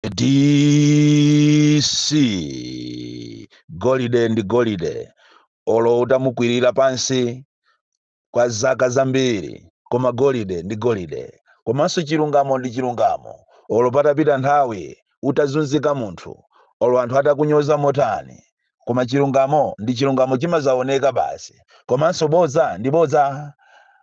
DC golide ndi golide olo utamukwirira pansi kwa zaka zambiri koma golide ndi golide komanso chilungamo ndi chilungamo olo patapita nthawi utazunzika munthu olo anthu atakunyoza motani Koma chilungamo ndi chilungamo chimazaoneka basi komanso bodza ndi bodza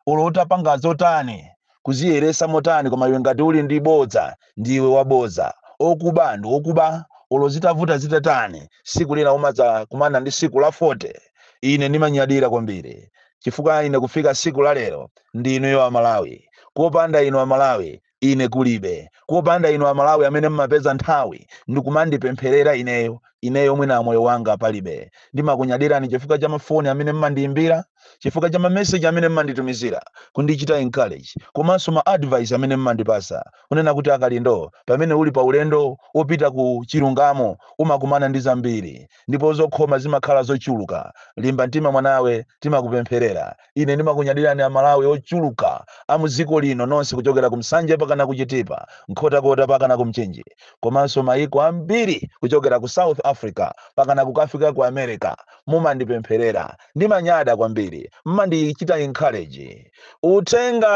olo utapanga zotani kuziyeresa motani koma iwe ngati uli ndi bodza ndiwe wabodza, okuba ndi okuba olo zitavuta zitatani siku lina umadza kumana ndi siku la 40. Ine ndimanyadira kwambiri chifukwa ine kufika siku la lero ndi inuyo a Malawi kopanda inu a Malawi Ine kulibe. Kopanda inu Amalawi amene mmapeza nthawi ndikumandipempherera ineyo, ineyo mwina moyo wanga palibe. Ndimakunyadirani chifukwa cha mafoni amene mmandiimbira, chifukwa cha ma message amene mmanditumizira kundichita encourage komanso ma advice amene mmandipasa kunena kuti a Kalindo pamene uli pa ulendo opita ku chilungamo umakumana ndi zambiri ndipo zokhoma zimakhala zochuluka, limba mtima mwanawe timakupempherera. ine ndimakunyadirani amalawi ochuluka a muziko lino nonse kuchokera ku nsanje pakana ku chitipa nkhotakota pakana ku mchinji komanso mayiko ambiri kuchokera ku south africa pakana kukafika ku america mumandipempherera ndimanyada kwambiri mmandichita encourage uthenga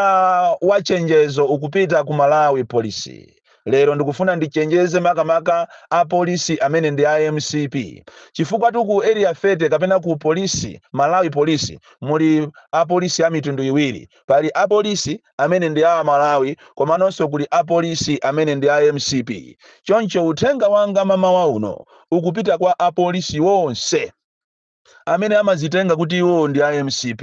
wa chenjezo ukupita ku malawi polisi Lero ndikufuna ndichenjeze makamaka a police amene ndi a mcp chifukwatu ku area 30 kapena ku police Malawi police muli a police a mitundu iwiri pali a police amene ndi a Malawi komanonso kuli a police amene ndi a mcp choncho uthenga wanga mamawa uno ukupita kwa a police wonse amene amazitenga kuti iwo ndi a mcp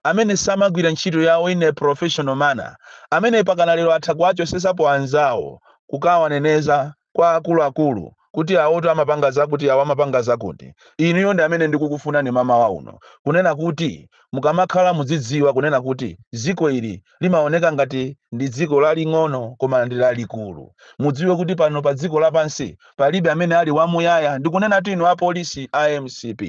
amene samagwira ntchito yawo in a professional manner amene pakana lero atha kuwachosesapo anzawo kukawaneneza kwa akuluakulu kuti awotu amapanga zakuti awo amapanga zakuti inuyo ndi amene ndikukufunani mamawa uno kunena kuti mukamakhala muzidziwa kunena kuti dziko ili limaoneka ngati ndi dziko laling'ono koma ndi lalikulu. Mudziwe kuti pano pa dziko lapansi palibe amene ali wamuyaya, ndikunenatu inu apolisi a mcp.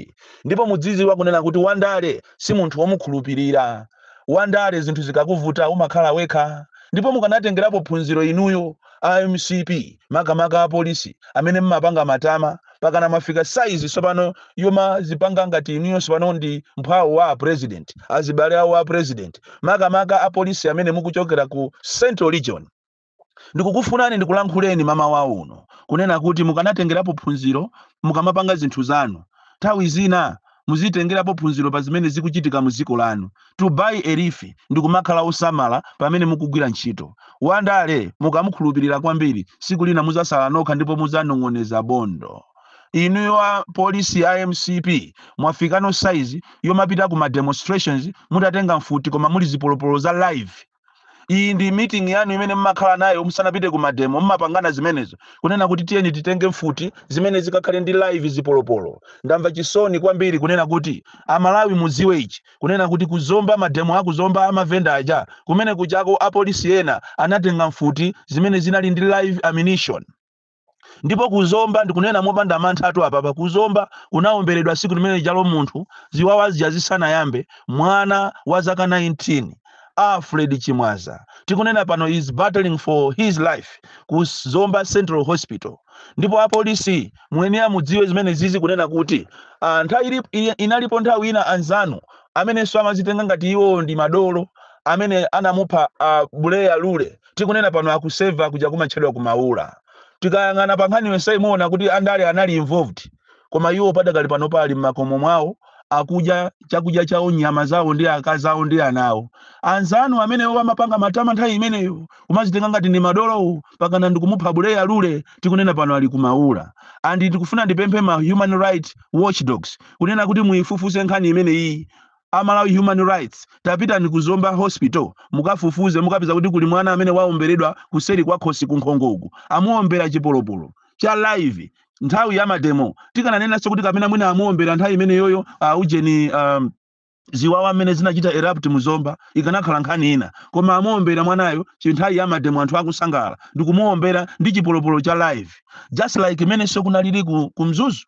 Ndipo muzidziwa kunena kuti Wandale si munthu womukhulupirira. Wandale zinthu zikakuvuta umakhala wekha. Ndipo mukanatengerapo phunziro inuyo a mcp makamaka apolisi amene mmapanga matama pakana mwafika saizi tsopano yomazipanga ngati inuyo tsopano ndi mphwawo wa apresident azibale awo a president makamaka apolisi amene mukuchokera ku central region ndikukufunani ndikulankhuleni mamawa uno kunena kuti mukanatengerapo phunziro mukamapanga zinthu zanu nthawi zina Muzitengerapo phunziro pa zimene zikuchitika mu dziko lanu. To borrow a leaf ndi kumakhala osamala pamene mukugwira ntchito. Wandale mukamukhulupirira kwambiri tsiku lina mudzasala nokha ndipo mudzanong'oneza bondo. Inuyo apolisi a mcp mwafikano size yomapita ku ma demonstrations mutatenga mfuti koma muli zipolopolo za live. iyi ndi meeting yanu imene mmakhala nayo musanapite ku mademo mmapangana zimenezo kunena kuti tiyeni titenge mfuti zimene zikakhale ndi live zipolopolo ndamva chisoni kwambiri kunena kuti amalawi muziwe ichi kunena kuti kuzomba mademo akuzomba amavenda aja kumene kujako apolisi ena anatenga mfuti zimene zinali ndi live ammunition ndipo kuzomba ndikunena mopanda manthatu apapa kuzomba kunawomberedwa tsiku limene lijalo munthu ziwawa zija zisanayambe mwana wa zaka 19 alfred chimwaza tikunena pano is battling for his life ku zomba central hospital ndipo apolisi muyenera mudziwe zimenezizi kunena kuti ah, nthawi ili- ili- inalipo nthawi ina anzanu amenenso amazitenga ngati iwo ndi madolo amene anamupha uh, buleya lule tikunena pano akuseva kuja kumatchedwa kumaula tikayang'ana pa nkhani yonseyi muona kuti andale anali involved koma iwo padakali pano pali m'makomo mwawo akudya chakudya chawo nyama zawo ndi akazi awo ndi ana awo anzanu amenewo amapanga matama nthawi imeneyo kumazitenga ngati ndi madolowo pakana ndikumupha buleya lule tikunena pano ali kumaula and tikufuna ndipemphe ma human rights watchdogs kunena kuti muifufuse nkhani imeneyi a Malawi Human Rights tapitani ku Zomba Hospital mukafufuze mukapeza kuti kuli mwana amene waomberedwa kuseri kwa khosi ku nkhongoku amuombera chipolopolo cha live nthawi ya mademo tikananenanso kuti kapena mwina amuombera nthawi imeneyoyo uh, ujeni um, ziwawa mmene zinachita erupt muzomba ikanakhala nkhani ina koma amuombera mwanayo chinthawi ya mademo anthu akusangala ndikumuombera ndi chipolopolo cha live just like mmenenso kunalili ku, ku mzuzu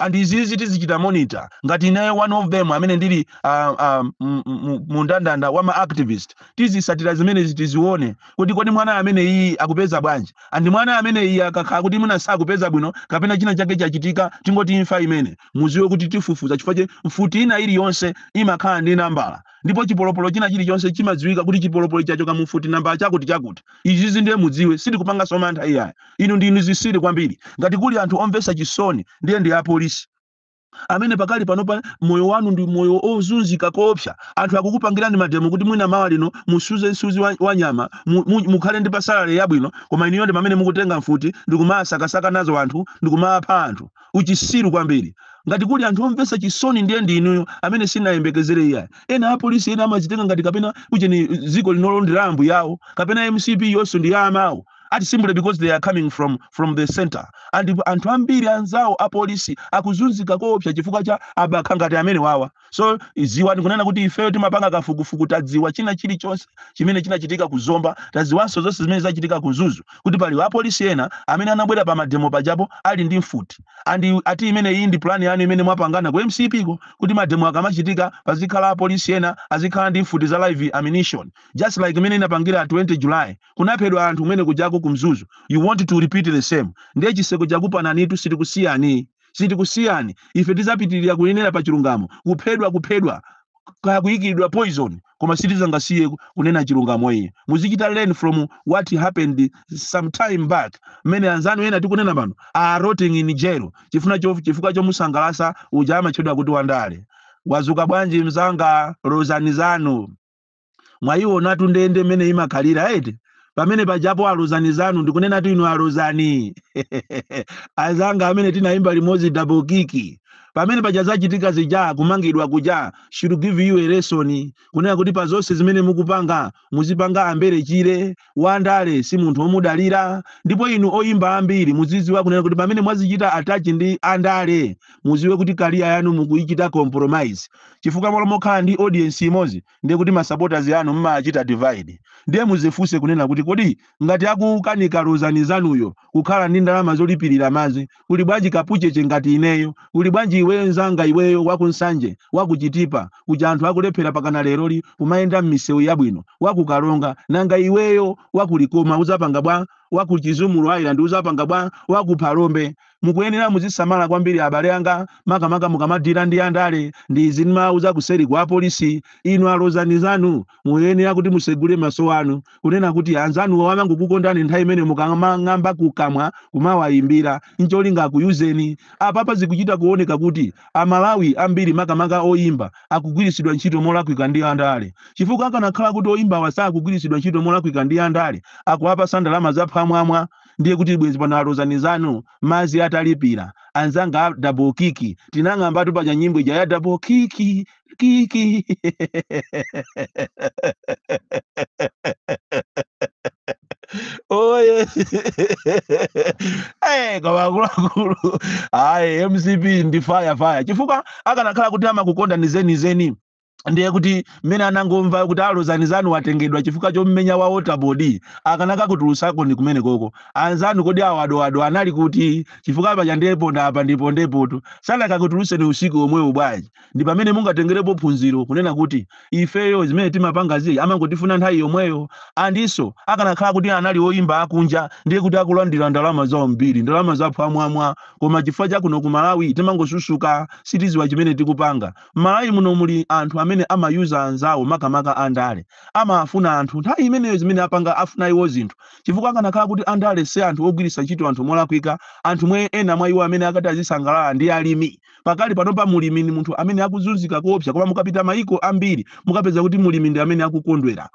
and izizi tizichita monitor ngati ineyo one of them amene ndili ah, ah, mu- mu- mu ndandanda wa ma activist tizisatira zimenezi tizione kuti kodi mwana ameneyi akupeza bwanji and mwana ameneyi akakhala kuti mwina sakupeza bwino kapena china chake chachitika tingoti imfa imene muziwe kuti tifufuza chifukwa choti mfuti ina iliyonse imakhala ndi nambala ndipo chipolopolo china chilichonse chimadziwika kuti chipolopolo chachoka mu mfuti nambala chakuti chakuti izizi ndiye mudziwe sitikupanganso mantha iyayi inu ndinu zisiri kwambiri ngati kuli anthu omvesa chisoni ndiye ndi apolisi amene pakali panopa moyo wanu ndi moyo ozunzika koopsa anthu akukupangirani mademo kuti mwina mawa lino musuze nsuzi wa, wa nyama mu- mu- mukhale ndi pa salary yabwino koma inuyo ndi pamene mukutenga mfuti ndikumasakasaka nazo anthu ndikumapha anthu uchisiru kwambiri ngati kuli anthu omvesa chisoni ndiye ndi inuyo amene sinayembekezere iyayi ena apolisi ena amazitenga ngati kapena ujeni dziko linolo ndi la ambuyawo kapena mcp yonso ndi ya amawo ati simply because they are coming from from the center and anthu ambiri anzawo apolisi akuzunzika koopsa chifukwa cha abakha ngati amenewawa so ziwani kunena kuti ifeyo timapanga kafukufuku tadziwa china chilichonse chimene chinachitika ku zomba tadziwanso zonse zimene zachitika ku mzuzu kuti pali apolisi ena amene anabwera pa mademo pajapo ali ndi mfuti and ati imene iyi ndi plan yanu imene mwapangana ku mcp ko kuti mademo akamachitika pazikhala apolisi ena azikhala ndi mfuti za live ammunition just like mmene inapangira 20 july kunaphedwa anthu kumene kujako ku mzuzu you want to repeat the same ndiye chiseko chakupananitu sitikusiyani sitikusiyani ife tizapitirira kunenera pa chilungamo kuphedwa kuphedwa kaya kuyikiridwa poison koma sitizangasiye kunena chilungamo iye muzichita learn from what happened some time back mmene anzanu ena tikunena pano are rotting in jail chifuna cho- chifukwa chomusangalasa uja amatchedwa kuti wandale wazuka bwanji mzanga lozani zanu mwayiwonatu ndende mmene imakhalira eti pamene pajapo alozani zanu ndikunenatu inu alozani azanga amene tinayimba limodzi double kick pamene paja zachitika zija kumangidwa kuja should give you a lesson kunena kuti pa zonse zimene mukupanga muzipanga ambere chire Wandale si munthu omudalira ndipo inu oyimba ambiri muziziwa kunena kuti pamene mwazichita attach ndi andale muziwe kuti career yanu mukuichita compromise chifukwa malo mokhala ndi audience imodzi ndiye kuti ma supporters anu mmawachita divide ndiye muzifunse kunena kuti kodi ngati akukanika Lozani zanuyo kukhala ndi ndalama zolipilira madzi Kuli bwanji kapucheche ngati ineyo? Kuli bwanji iweyo nzanga iweyo wa ku Nsanje, wa ku Chitipa kuja anthu akulephera mpakana leroli kumayenda mmisewu yabwino, wa ku Karonga, nanga iweyo wa ku Likoma udzapanga bwa? Wa ku Chizumulu Island udzapanga bwa? Wa ku Phalombe. Mukuyenera muzisamala kwambiri abale anga makamaka mukamadila ndi andale ndi izi ndimauza kuseri kwa apolisi inu alozani zanu muyenera kuti musegule maso anu kunena kuti anzanuwo amangokukondani nthawi imene mukamang'amba kukamwa kumawayimbira ncholinga akuyuzeni apapa zikuchita kuoneka kuti amalawi ambiri makamaka oyimba akugwiritsidwa ntchito molakwika ndi andale chifukwa akanakhala kuti oyimbawa sakugwiritsidwa ntchito molakwika ndi andale akuwapasa ndalama zaphwamwamwa ndiye kuti bwenzi pano alozani zanu madzi atalipira anzanga a double kick tinang'ambatu paja nyimbo ija ya double kick Kick. oye eh koma akuluakulu ayi mcp ndi fire fire chifukwa akanakhala kuti amakukondani zenizeni ndiye kuti mmene anangomva kuti alozani zanu watengedwa chifukwa chommenya wa waterboard akanakakutulutsakoni kumenekoko anzanu kodi awadoado anali kuti chifukwa paja ndi ponda apa ndipondepotu sanakakutulutseni usiku omwewo bwanji ndi pamene mungatengerepo phunziro kunena kuti ifeyo zimene timapangazi amangotifuna nthawi yomweyo andiso akanakhala kuti anali oyimba akunja ndiye kuti akulandira ndalama zawo zambiri ndalama za phwamwamwa koma chifukwa cha kuno ku malawi timangozunzika sitiziwa chimene tikupanga m'malawi muno muli anthu amene amayuza anzawo makamaka andale amafuna anthu nthawi imeneyo zimene apanga afuna iwo zinthu chifukwa akanakhala kuti andale si anthu ogwiritsa ntchito anthu molakwika anthu omwe ena mwa iwo amene akadati azisangalala ndi alimi Pakali panopa mulimi ndi munthu amene akuzunzika koopsa koma mukapita mayiko ambiri mukapeza kuti mulimi ndi amene akukondwera.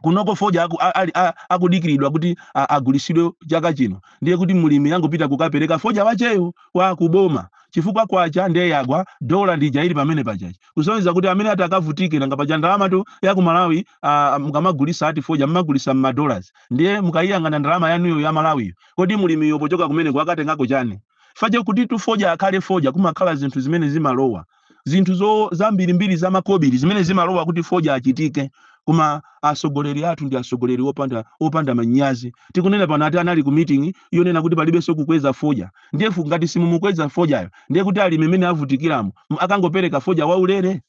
Kunoko fodya aku, a, ali, a, akudikiridwa kuti a, agulisidwe chaka chino ndiye kuti mulimi akangopita kukapereka fodya wacheyo wa kuboma chifukwa kwacha ndiye yagwa dola ndi ija ili pamene pa tchachi kusonyeza kuti amene ati akavutike nanga paja ndalamatu ya ku malawi a, mukamagulisa ati fodya mmagulisa mmadollars ndiye mukayiyang'ana ndalama yanuyo ya malawiyo kodi mulimiyo pochoka kumeneko akatengako chani paja kutitu foja akhale foja kumakhala zinthu zimene zimalowa zinthu zo zambirimbiri za makobiri zimene zimalowa kuti foja achitike koma atsogoleri athu ndi atsogoleri opanda manyazi tikunena pano ati anali ku meeting yonena kuti palibenso kukweza foja ndiye ngati simumukweza fojayo ndiye kuti alimi mmene avutikiramo m- akangopereka foja waulere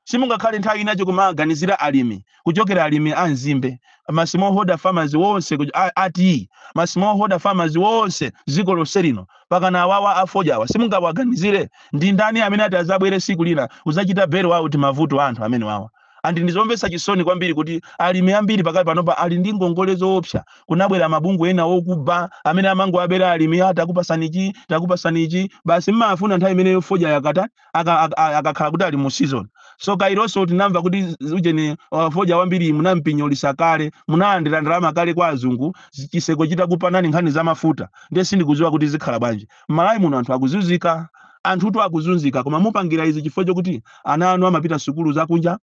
Simungakhale nthawi ina yake kumawaganizira alimi kuchokera alimi a nzimbe, ma smallholder farmers wonse a tiyi, ma smallholder farmers wonse dziko lonse lino, pakana awawa a fodyawa simungawaganizire? Ndi ndani amene ati adzabwere tsiku lina kudzachita bail out mavuto anthu amenewawa? And ndi zomvetsa chisoni kwambiri kuti alimi ambiri pakali panopa ali ndi ngongole zoopsa, kunabwera mabungwe ena okuba amene amangowabera alimi, ah, takupatsani ichi, takupatsani ichi, basi mmawafuna nthawi imeneyo fodya yagwata, aka- aka- a- akakhala kuti ali mu season so kalenso tinamva kuti z- ujeni uh, fodya wambiri munampinyolisa kale munalandira ndalama kale kwa azungu zi- chiseko chitakupanani ni nkhani za mafuta ndiye sindikudziwa kuti zikhala bwanji m'malawi muno anthu akuzunzika anthutu akuzunzika koma mukupangira izi chifukwa chokuti ana anu amapita sukulu zakunja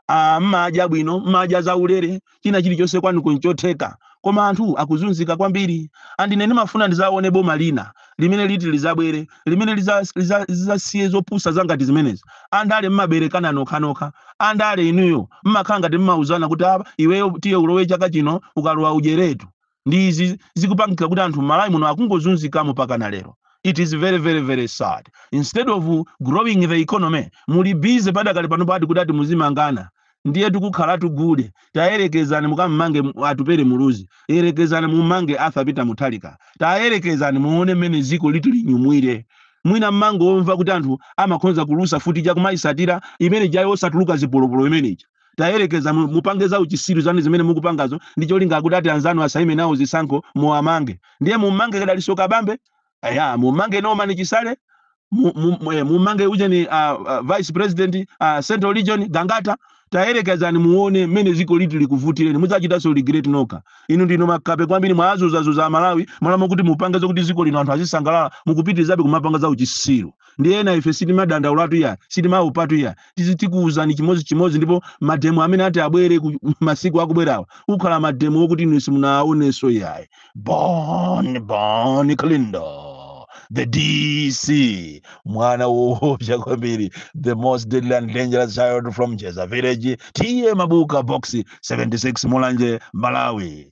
ah, mmadya bwino mmadya zaulere china chilichonse kwanu kunchotheka koma anthu akuzunzika kwambiri and ine ndimafuna ndizaone boma lina limene liti lizabwere limene liza- liza- lizasiye zopusa za ngati zimenezi andale mmaberekana nokhanokha andale inuyo mmakhala ngati mmauzana kuti apa iweyo tiye ulowe chaka chino ukalowa udyeretu ndi izi zikupangika kuti anthu m'malawi muno akungozunzikamo pakana lero it is very very very sad instead of growing the economy muli busy padakali pano ati kuti ati muzimangana ndiye tikukhala tigule tayerekezani mukammange mu- atupere muluzi yerekezani mummange arthur peter mutharika tayerekezani muone mmene ziko liti linyumwire mwina mmangomva kuti anthu amakhonza kulusa mfuti akumayitsatira imene ijayo osatuluka zipolopolo imene ija tayerekeza mu- mupange za uchisiru zanu zimene mukupangazo ndi cholinga kuti oti anzanu asaime nawo zisankho muwamange ndiye mummange kaya Dalitso Kabambe kaya mummange Norman Chisale mu- mu- mu- eh, mummange ujeni ah, ah, vice president ah, central region Ngangata tayerekezani muone mmene dziko liti likuvutireni mudzachitanso regret nokha inu ndinu makape kwambiri mwazuzazuza amalawi m'malo moti mupange zokuti dziko lino anthu azisangalala mukupitirizabe kumapanga za uchisiru ndiye na ife sitimadandaulatu iya sitimaopatu iya tizi tikuwuzani chimodzi chimodzi ndipo mademo amene ati abwere masiku akubwerawa akhala mademo okuti inu simunaonenso yayi bon bon Kalindo the dc mwana woopsa kwambiri the most deadly and dangerous child from jeza village tiye mabuka box 76 mulanje malawi